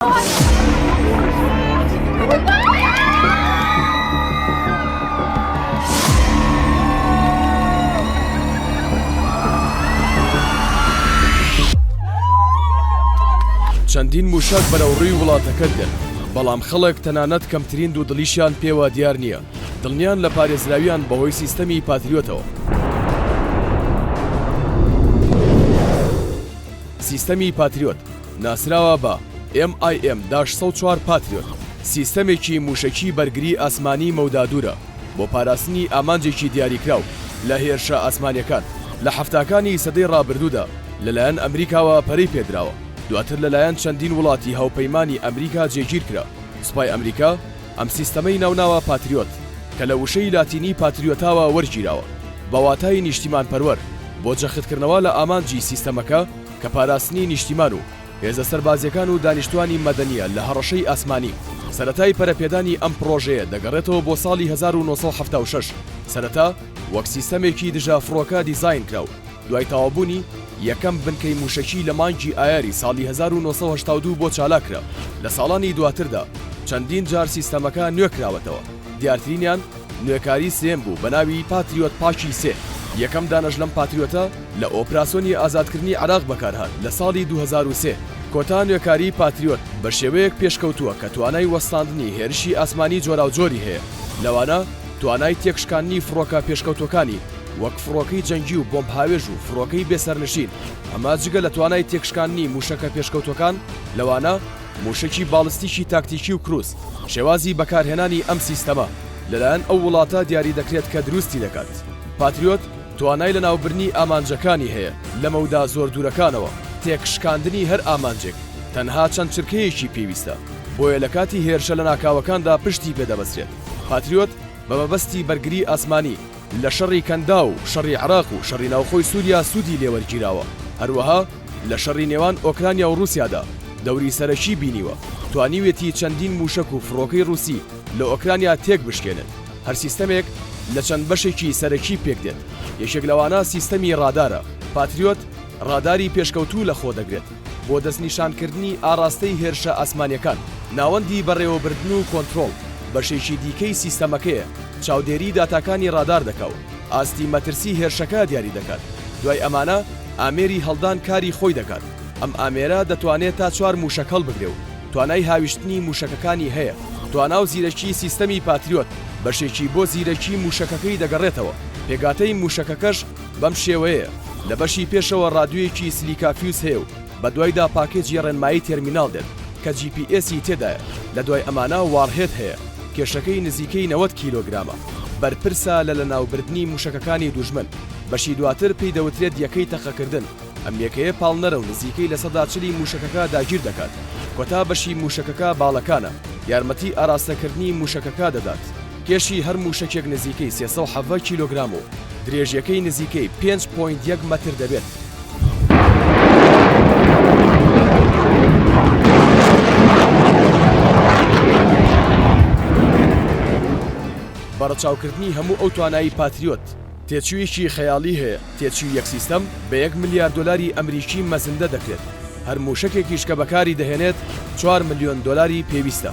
چەندین مووشەک بەرەو ڕووی وڵاتەکە دێن بەڵام خەڵک تەنانەت کەمترین دوو دڵیشیان پێوە دیار نییە دڵنیان لە پارێزراویان بەهۆی سیستەمی پاتریۆتەوە سیستەمی پاتریۆت ناسراوە بە، MIM داش سەد و چوار Patriot، سیستەمێکی مووشەکی بەرگری ئاسمانی مەودادوورە بۆ پاراستنی ئامانجێکی دیاریکراو لە هێرشە ئاسمانیەکان، لە حەفتاکانی سەدەی ڕابردوودا لەلایەن ئەمریکاوە پەرەی پێدراوە، دواتر لەلایەن چەندین وڵاتی هاوپەیمانی ئەمریکا جێگیرکرا، سوپای ئەمریکا ئەم سیستەمەی ناوناوە پاتریۆت کە لە وشەی لاتینی Patriotاوە وەرگیراوە بە واتای نیشتیمانپەروەر بۆ جەختکردنەوە لە ئامانجی سیستەمەکە، کە پاراستنی نیشتیمان و هێزە سەربازییەکان و دانیشتووانی مەدەنییە لە هەڕەشەی ئاسمانی. سەرەتای پەرەپێدانی ئەم پڕۆژەیە دەگەڕێتەوە بۆ ساڵی هەزار و نۆ سەد و حەفتا و شەش، سەرەتا وەک سیستەمێکی دژەفڕۆکە دیزاین کرا و دوای تەواوبوونی، یەکەم بنکەی مووشەکی لە مانگی ئایاری ساڵی هەزار و نۆ سەد و هەشتا و دوو بۆ چالاک کرا. لە ساڵانی دواتردا چەندین جار سیستەمەکە نوێ کراوەتەوە، دیارترینیان، نوێکاری سێم بوو بەناوی پاتریۆت پاکی سێ، یەکەم دانەش لەم پاتریۆتە لە ئۆپراسۆنی ئازادکردنی عێراق بەکارهات لە ساڵی دوو هەزار و سێ. کۆتا نوێکاری پاتریۆت بە شێوەیەک پێشکەوتووە کە توانای وەستاندنی هێرشی ئاسمانی جۆراوجۆری هەیە لەوانە توانای تێکشکاندنی فڕۆکە پێشکەوتووەکانی وەک فڕۆکەی جەنگی و بۆمب هاوێژ و فڕۆکەی بێ سەرنشین ئەمە جگە لە توانای تێکشکاندنی مووشەکە پێشکەوتووەکان لەوانە مووشەکی باڵستیکی تاکتیکی و کروز، شێوازی بەکارهێنانی ئەم سیستەمە لەلایەن ئەو وڵاتە دیاری دەکرێت کە دروستی دەکات. پاتریۆت توانای لەناوبرنی ئامانجەکانی هەیە لە مەودا زۆر دوورەکانەوە. تێکشکاندنی هەر ئامانجێک تەنها چەند چرکەیەکی پێویستە، بۆیە لە کاتی هێرشە لەناکاوەکاندا پشتی پێ دەبەسترێت. پاتریۆت بە مەبەستی بەرگری ئاسمانی لە شەڕی کەنداو و شەڕی عێراق و شەڕی ناوخۆی سووریا سوودی لێوەرگیراوە، هەروەها لە شەڕی نێوان ئۆکرانیا و ڕووسیادا دەوری سەرەکیی بینیوە، توانیوێتی چەندین مووشەک و فڕۆکەی ڕووسی لە ئۆکرانیا تێک بشکێنێت، هەر سیستەمێک لە چەند بەشێکی سەرەکی پێک دێت، یەکێک لەوانە سیستەمی ڕادارە، پاتریۆت ڕاداری پێشکەوتوو لەخۆ دەگرێت. بۆ دەستنیشانکردنی ئاڕاستەی هێرشە ئاسمانیەکان، ناوەندی بەڕێوەبردن و کۆنترۆڵ بەشێکی دیکەی سیستەمەکەیە چاودێری داتاکانی ڕادار دەکا و ئاستی مەترسی هێرشەکە دیاری دەکات دوای ئەمانە ئامێری هەڵدان کاری خۆی دەکات ئەم ئامێرە دەتوانێت تا چوار موشەک هەڵبگرێ و توانای هاویشتنی موشەکەکانی هەیە توانا و زیرەکی سیستەمی پاتریۆت بەشێکی بۆ زیرەکی موشەکەکەی دەگەڕێتەوە پێگاتەی موشەکەکەش بەم شێوەیە لە بەشی پێشەوە ڕادیۆیەکی سلیکا فیوز هەیە و بە دوایدا پاکێجی ڕێنمایی تێرمیناڵ دێت کە جی پی ئێسی تێدایە لە دوای ئەمانە واڕهێد هەیە کێشەکەی نزیکەی نەوەد کیلۆگرامە بەرپرسە لە لەناوبردنی مووشەکەکانی دوژمن بەشی دواتر پێی دەوترێت یەکەی تەقەکردن ئەم یەکەیە پاڵنەرە و نزیکەی لە سەدا چلی مووشەکەکە داگیر دەکات، کۆتا بەشی مووشەکەکە باڵەکانە، یارمەتی ئاراستەکردنی مووشەکەکە دەدات، کێشی هەر مووشەکێک نزیکەی سێ سەد و حەڤدە کیلۆگرام و درێژییەکەی نزیکەی پێنج پۆینت یەک مەتر دەبێت. بە ڕەچاوکردنی هەموو ئەو توانایی پاتریۆت، تێچوویەکی خەیاڵی هەیە. تێچووی یەک سیستەم بە یەک ملیار دۆلاری ئەمریکی مەزندە دەکرێت، هەر مووشەکێکیش کە بەکاری دەهێنێت چوار ملیۆن دۆلاری پێویستە.